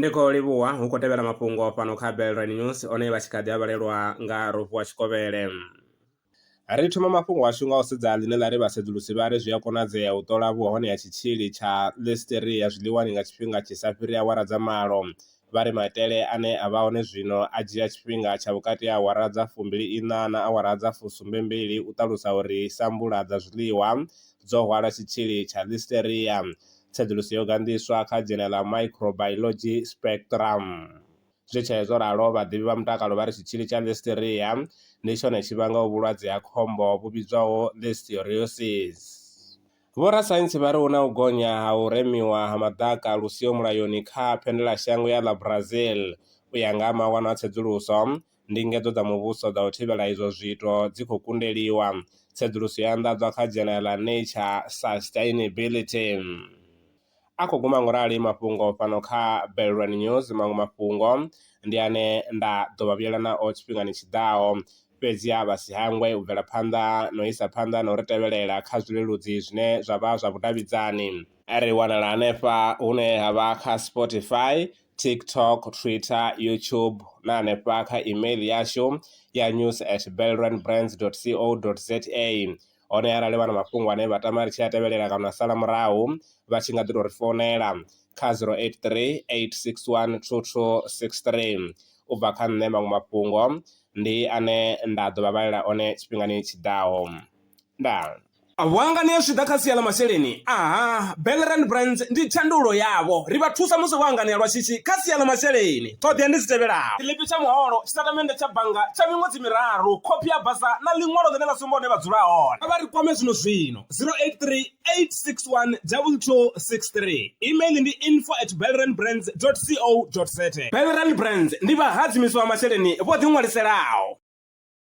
ndi khou livhuwa hu khou tevhela mafhungo fhano kha belran news one vha tshi kha ḓi a vhalelwa nga rofu wa tshikovhele ri thoma mafhungo ashu nga u sedza ḽine ḽa ri vhasedzulusi vha ri zwi a konadzea u ṱola vhuhone ha tshitzhili tsha listeria zwiḽiwani nga tshifhinga tshi sa fhiri awara dza malo vha ri maitele ane a vha hone zwino a dzhia tshifhinga tsha vhukati ha awara dza fumbili iṋa na awara dza fusumbe mbili u ṱalusa uri sambula dza zwiḽiwa dzo hwala tshitzhili tsha Listeria. Tsedzuluso yo ganḓiswa kha dzhena ḽa Microbiology Spectrum. Zwi tshee zwo ralo, vhaḓivhi vha mutakalo vha ri tshitzhili tsha Listeria ndi tshone tshi vhangaho vhulwadze ha khombo vhu vhidzwaho Listeriosis. Vhorasaintsi vha ri hu na u gonya ha u remiwa ha maḓaka lu siho mulayoni kha Phendelashango ya ḽa Brazil. U ya nga ha mawanwa a tsedzuluso, ndingedzo dza muvhuso dza u thivhela izwo zwiito dzi khou kundeliwa. Tsedzuluso yo anḓadzwa kha dzhenela ḽa Nature Sustainability. a khou guma ngo rali mafhungo fhano kha Belrwani News. Maṅwe mafhungo ndi ane nda ḓo vha vhuyela nao tshifhingani tshi ḓaho, fhedziha vha si hangwe u bvela phanḓa na u isa phanḓa na u ri tevhelela kha zwileludzi zwine zwa vha zwa vhudavhidzani. Ri wanala hanefha hune ha vha kha Spotify, TikTok, Twitter, YouTube na hanefha kha email yashu ya news@belrwanbrands.co.za. hone arali vha na mafhungo ane vha tama ri tshi a tevhelela kana a sala murahu vha tshi nga ḓi tou ri founela kha zero eight three eight six one two two six three. U bva kha nṋe maṅwe mafhungo ndi ane nda ḓo vha vhalela one tshifhingani tshi ḓaho. Ndaa. Vhuangani zwi tshi ḓa kha sia ḽa masheleni, aha, Bell Rand Brands ndi thandululo yavho. Ri vha thusa musi vho anganea lwa shishi kha sia ḽa masheleni. Ṱhoḓea ndi dzi tevhelaho, tshiḽipi tsha muholo, tshitatamennde tsha bannga tsha miṅwedzi miraru, khophi ya basa na ḽiṅwalo ḽine ḽa sumba hune vha dzula hone. Kha vha ri kwame zwino-zwino, 0838612263. Email ndi info at belrandbrands.co.za. Belrand Brands ndi vhahadzimiswa vha masheleni vho ḓiṅwaliselaho.